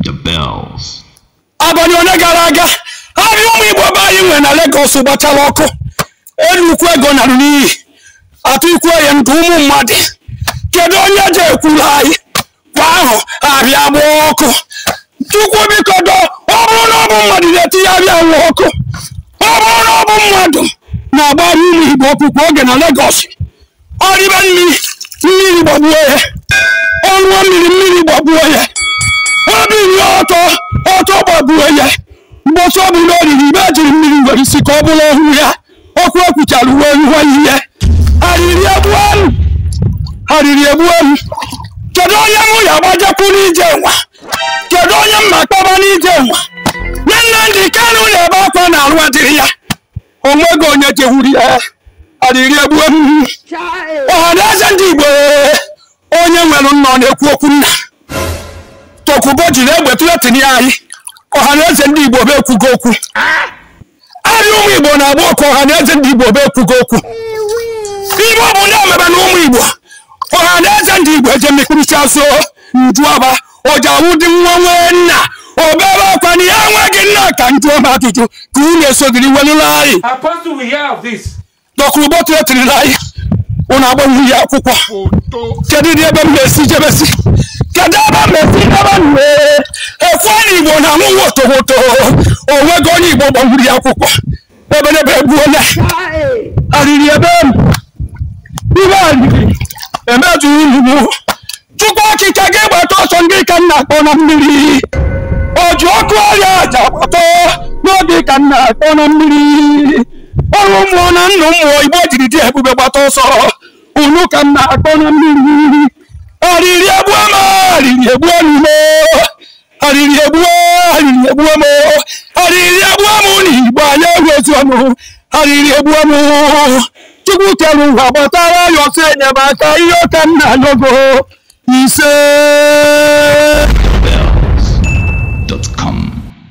The bells. abalị ole gara aga ahịa ụmụ igbo be anyị nwere na Lagos gbachara ọkụ nnukwu ego narụ n'iyi atụkwunye ndụ ụmụ mmadụ kedu onye je ekwuru anyị kwa ahọ ahịa gbaa ọkụ chukwu biko doo ọ bụrụ na ọ bụ mmadụ na-etinye ahịa nwa ọkụ ọ bụrụ na ọ bụ mmadụ na-agba ahịa ụmụ igbo ọkụ kwa oge na Lagos o ribe mmiri mmiri gbagbuo ya ọ ṅụọ mmiri mmiri gbagbuo ya o binie ọtọ ọtọ gbagbuo ya mgbọsị ọ bụla o riri ihe e jiri mmiri were sie ka ọ bụrụ ọnwụ ya okwu ekwuchara uwe iwe ihe arịrị egbuonụ arịrị egbuonụ kedu onye mụ ya-agbajekwu n'ije nwa kedu onye m ma-akpọba n'ije nwa Nnamdi Kanu na-ebe akwa na arụ adịrị ya o nwego onye jehụrụ ya arịrị egbuo m ọha na eze ndị igbo onye nwere nna ọ na-ekwu okwu nna Dokubo jiri egbe threaten anyị ọha na eze ndị igbo bụ ekwugo okwu ahịa ụmụ igbo na-agba ọkụ ọha na eze ndị igbo bụ ekwugo okwu ihe ọ bụna mebenụ ụmụ igbo ọha na eze ndị igbo eje mmekpụrụcha so njuaba o ji awụdị nwa nwee nna o bebe akwa na ya enweghị nna ka m jụọ m ajụjụ ka unu esogiri welụla anyị Apostle will hear of this. Dokubo threaten-la anyị unu agbanwuru ya akwụkwọ kedu dị ebe m na-esi jebesi kedu ebe m na-esi jebe nwe ekwe na igbo na-anwụ wotowoto o nwego onye igbo gbanwuru ya akwụkwọ ebelebe egbuola arịrị ebe m ihe arịrị emezunụ m chukwu okike gị gbata ọsọ ngị ka m na-akpọ na mmiri o ji ọkụ eri aja gbata ngị ka m na-akpọ na mmiri oru mmụọ na nnụ mmụọ igbo jiri dị ebube gbata ọsọ unu ka m na-akpọ na mmiri arịrị egbuo m arịrị egbuo m arịrị egbuo arịrị egbuo m arịrị egbuo m n'igbo anyị enwezi ọnụ arịrị egbuo m chukwu kere ụwa gbatara ya ọsọ enyemaka ihe a ka m na-ayọ gị ise